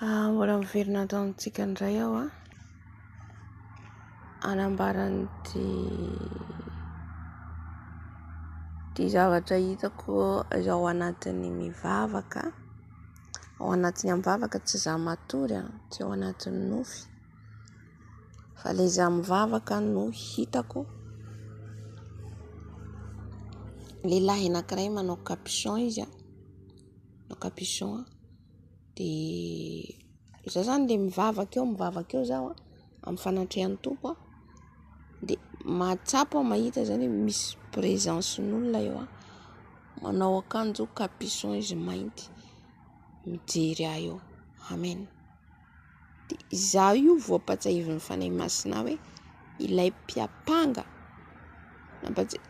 Ah, mbola miverina ato amintsika indray aho ah. Anambaran'ity ity zavatra hitako izao anatin'ny mivavaka, ao anatin'ny am-bavaka tsy za matory ah, tsy ao anatin'ny nofy. Fa ilay izaho mivavaka no hitako, lehilahy anankiray manao capuchon izy an, manao capuchon an, dia izaho izany dia mivavaka eo mivavaka eo izaho an, amin'ny fanatrehan'ny Tompo an, dia mahatsapa aho mahita izany hoe misy présence-n'olona eo an, manao akanjo capuchon izy mainty, mijery ahy eo. Amen. dia izaho io voapatsahiviny Fanahy Masina hoe ilay mpiampanga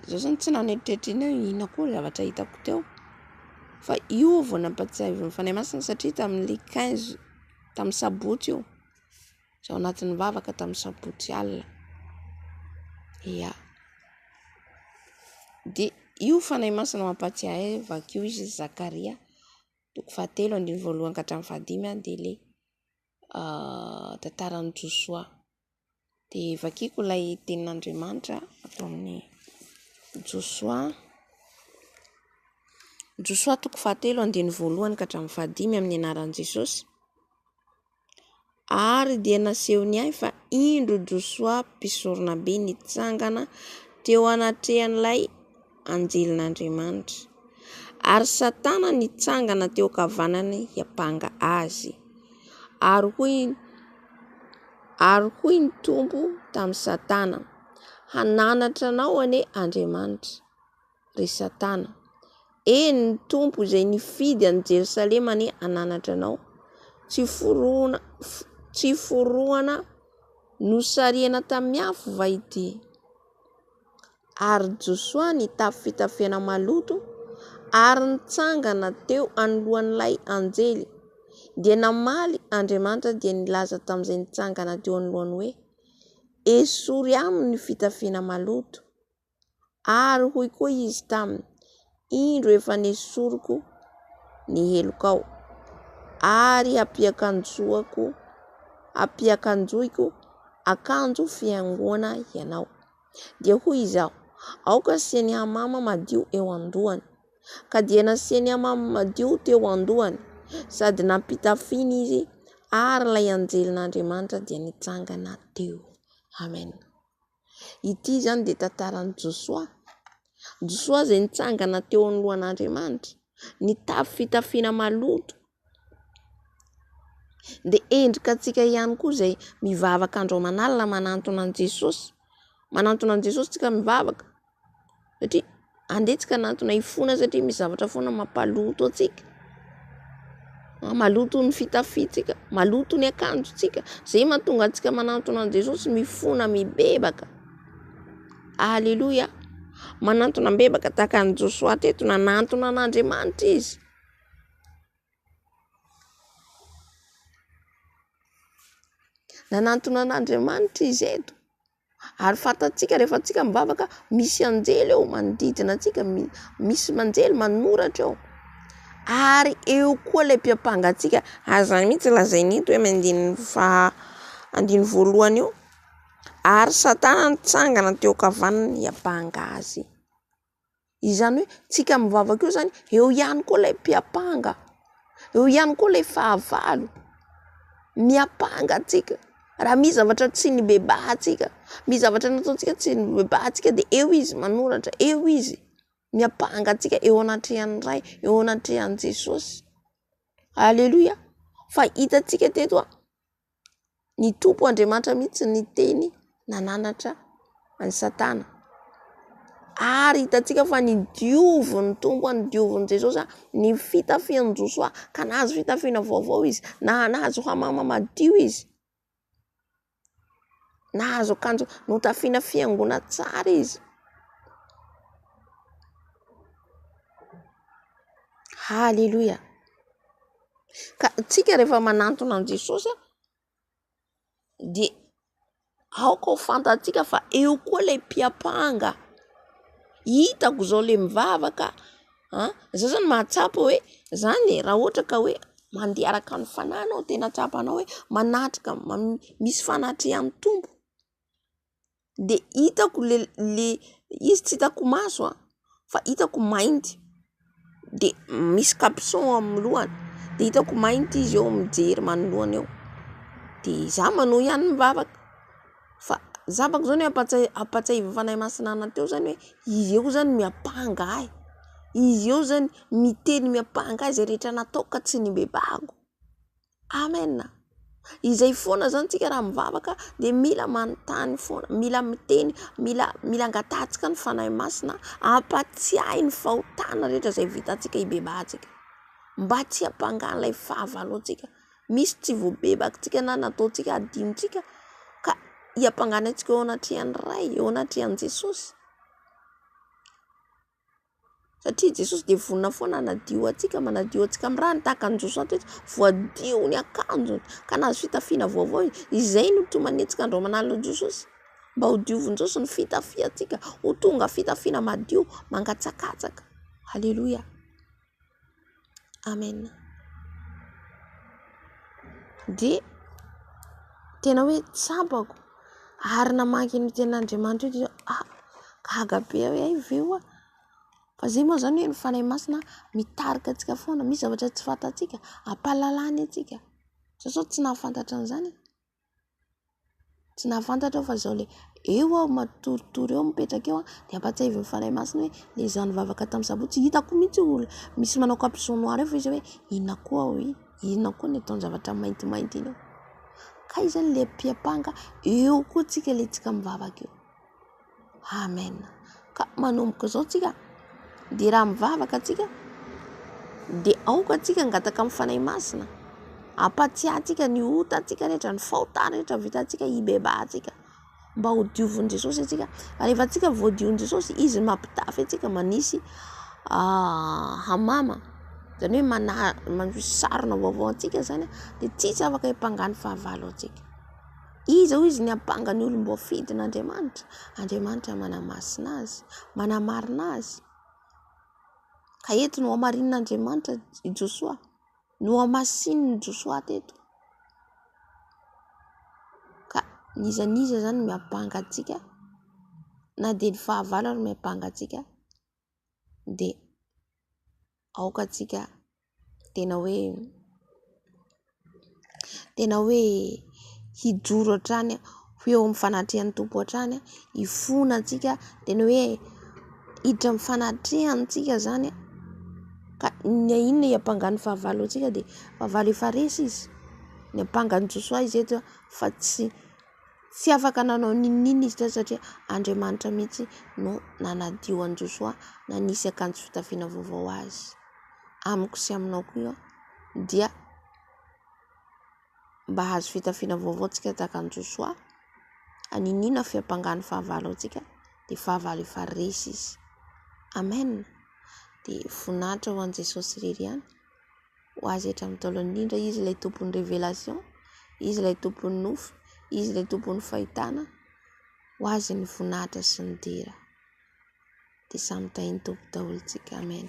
izaho zany tsy naneritreritry ny hoe inona koa ny zavatra hitako teo fa io aho vao nampatsahiviny Fanahy Masina satria tamin'ny quinze tamin'ny sabotsy io izaho anatin'ny vavaka tamin'ny sabotsy alina ya dia io Fanahy Masina mampatsiahy ahy vakio izy Zakaria toko fahatelo andininy voalohany ka hatramin'ny fahadimy dia ilay tantaran'i Josoa. Dia vakiako ilay tenin'Andriamanitra ato amin'ny Josoa, Josoa toko fahatelo andininy voalohany ka hatramin'ny fahadimy amin'ny anaran'i Jesosy. ary dia nasehony ahy fa indro Josoa mpisoronabe nitsangana teo anatrehan'ilay anjelin'Andriamanitra, ary Satana nitsangana teo ankavanany hiampanga azy, ary hoy i ary hoy ny Tompo tamin'i Satana, hananatra anao anie Andriamanitra. ry Satana. Eny, ny Tompo izay nifidy an'i Jerosalema anie hananatra anao. Tsy forohona, tsy forohana nosarihana tamin'ny afo va ity? Ary Josoa nitafy fitafiana maloto ary nitsangana teo anoloan'ilay anjely. Dia namaly Andriamanitra dia nilaza tamin'izay nitsangana teo anoloany hoe, Esory aminy ny fitafiana maloto. Ary hoy koa izy taminy, Indro efa nesoriko ny helokao, ary hampiakanjoako, hampiakanjoiko akanjo fihaingoana ianao. Dia hoy izaho, Aoka asiany hamama madio eo an-dohany. Ka dia nasiany hamama madio teo an-dohany, sady nampitafiany izy, ary ilay anjelin'Andriamanitra dia nitsangana teo. Amen. Ity izany dia tantaran'i Josoa. Josoa izay nitsangana teo anoloan'Andriamanitra, nitafy fitafiana maloto. Dia endrika antsika ihany koa izay mivavaka andro aman'alina manantona an'i Jesosy. Manantona an'i Jesosy isika mivavaka. satria andeha tsy kanatona hifona satria misy zavatra foana mampaloto antsika, maloto ny fitafintsika, maloto ny akanjontsika, izay mahatonga antsika manatona an'i Jesosy mifona mibebaka, aleloia, manatona mibebaka tahaka an'i Josoa teto nanatona an'Andriamanitra izy. Nanatona an'Andriamanitra izy eto. Ary fantatsika rehefa antsika mivavaka misy anjely eo manodidina antsika, misy anjely manoratra eo. Ary eo koa ilay mpiampanga antsika, ary izany mihitsy no lazainy eto amin'ny andininy faha andininy voalohany io, ary satana nitsangana teo ankavanany hiampanga azy. Izany hoe tsika mivavaka eo zany eo ihany koa ilay mpiampanga, eo ihany koa ilay fahavalo. Miampanga antsika raha misy zavatra tsy nibebahantsika, misy zavatra nataontsika tsy nibebahantsika de eo izy manoratra, eo izy miampanga antsika eo anatrehan'ny Ray, eo anatrehan'i Jesosy. Aleloia! Fa hitantsika teto a! Ny Tompo Andriamanitra mihitsy no niteny nananatra an'i Satana. Ary hitantsika fa ny diovin'ny Tompo, ny diovin'i Jesosy, ny fitafian'i Josoa ka nahazo fitafiana vaovao izy, nahazo hamama madio izy, nahazo akanjo notafiana fiangonana tsara izy, haleloia. Ka tsika rehefa manantona an'i Jesosy dia aoka ho fantatsika fa eo koa ilay mpiampanga, hitako izao ilay mivavaka an, izay zany mahatsapa hoe zany e, raha ohatra ka hoe mandeha araka ny fanahy anao, tena tsapanao hoe manatrika, misy fanatrehan'ny Tompo. de hitako le le izy tsy hitako maso a fa hitako mainty de misy capuchon amin'ny lohany de hitako mainty izy eo mijery manoloana eo de zah manao ihany ny vavaka fa zah manko zao ampatsiahy ampatsiahivan'ny Fanahy Masina anah teo zany hoe izy eo zany miampanga ahy, izy eo zany miteny miampanga ahy izay rehetra nataoko ka tsy nibebahako. Amen a! Izay foana izany isika raha mivavaka dia mila manontany foana, mila miteny, mila mila angatahantsika ny Fanahy Masina hampatsiahy ny fahotana rehetra izay vitantsika hibebahantsika. Mba tsy hampanga an'ilay fahavaloantsika. Misy tsy voabebakintsika na nataontsika adinontsika ka hiampangana antsika eo anatrehan'ny Ray, eo anatrehan'i Jesosy. satria Jesosy dia vonona foana hanadio antsika, manadio antsika amin'ny ràny tahaka an'i Josoa teto, voadio ny akanjony ka nahazo fitafiana vaovao izy, izay no toa manenjika andro aman'alina an'i Jesosy mba ho diovin'i Jesosy ny fitafiantsika ho tonga fitafiana madio mangatsakatsaka, haleloia. Amen. Dia tena hoe tsapako ary namaky ny tenin'Andriamanitra io dia ah gaga be aho hoe hay ve ho'a fa izay moa izany hoe ny Fanahy Masina mitarika antsika foana, misy zavatra tsy fantatsika, ampahalalany antsika, za izao tsy nahafantatra an'izany e. Tsy nahafantatra aho fa izao ilay eo aho matoritory eo mipetraka eo dia ampahatsiahivin'ny Fanahy Masina hoe ilay izaho nivavaka tamin'ny sabotsy. Hitako mihitsy olona misy manao kapa jaune noir eo fa izy hoe inona koa aho io? Inona koa ny ataon-javatra maintimainty iny eo? Kay izany ilay mpiampanga eo koa tsika ilay tsika mivavaka eo. Amen. Ka manomboka izao tsika dia raha mivavaka tsika dia aoka tsika angataka amin'ny Fanahy Masina ampatsiahintsika ny otantsika rehetra, ny faota rehetra vitantsika ibebahantsika mba ho diovin'i Jesosy antsika. Rehefa tsika voadion'i Jesosy, izy no mampitafy antsika manisy ah, hamama. Izany hoe manisy sarona vaovao antsika izany dia tsisy afaka hiampanga ny fahavalo antsika. Iza hoy izy ny hampanga ny olom-boafidin'Andriamanitra? Andriamanitra manamasina azy, manamarina azy. Ka eto nohamarinin'Andriamanitra i Josoa, nohamasinin'i Josoa teto. Ka n'iza n'iza izany no miampanga antsika, na dia ny fahavalo ary miampanga antsika. dia aoka tsika tena hoe tena hoe hijoro hatrany ho eo amin'ny fanatrehan'ny Tompo hatrany, hifona tsika tena hoe hiditra amin'ny fanatrehany tsika izany ka na inona hiampanga ny fahavalo antsika dia fahavalo efa resy izy, niampanga an'i Josoa izy eto fa tsy. Tsy afaka nanao n'inon'inona izy teo satria Andriamanitra mihitsy no nanadio an'i Josoa nanisy akanjo fitafiana vaovao azy. Amiko sy aminao koa dia mba hahazo fitafiana vaovao isika tahaka an'i Josoa, haniniana ny fiampangan'ny fahavalo antsika dia fahavalo efa resy izy. Amen ! Dia voninahitra ho an'i Jesosy irery ihany. ho azy hatramin'ny taolany indrindra, Izy ilay tompon'ny révélation, Izy ilay tompon'ny nofy, Izy ilay tompon'ny fahitana, ho azy ny voninahitra sy ny dera, dia samy tahin'ny Tompo daholo isika, Amen.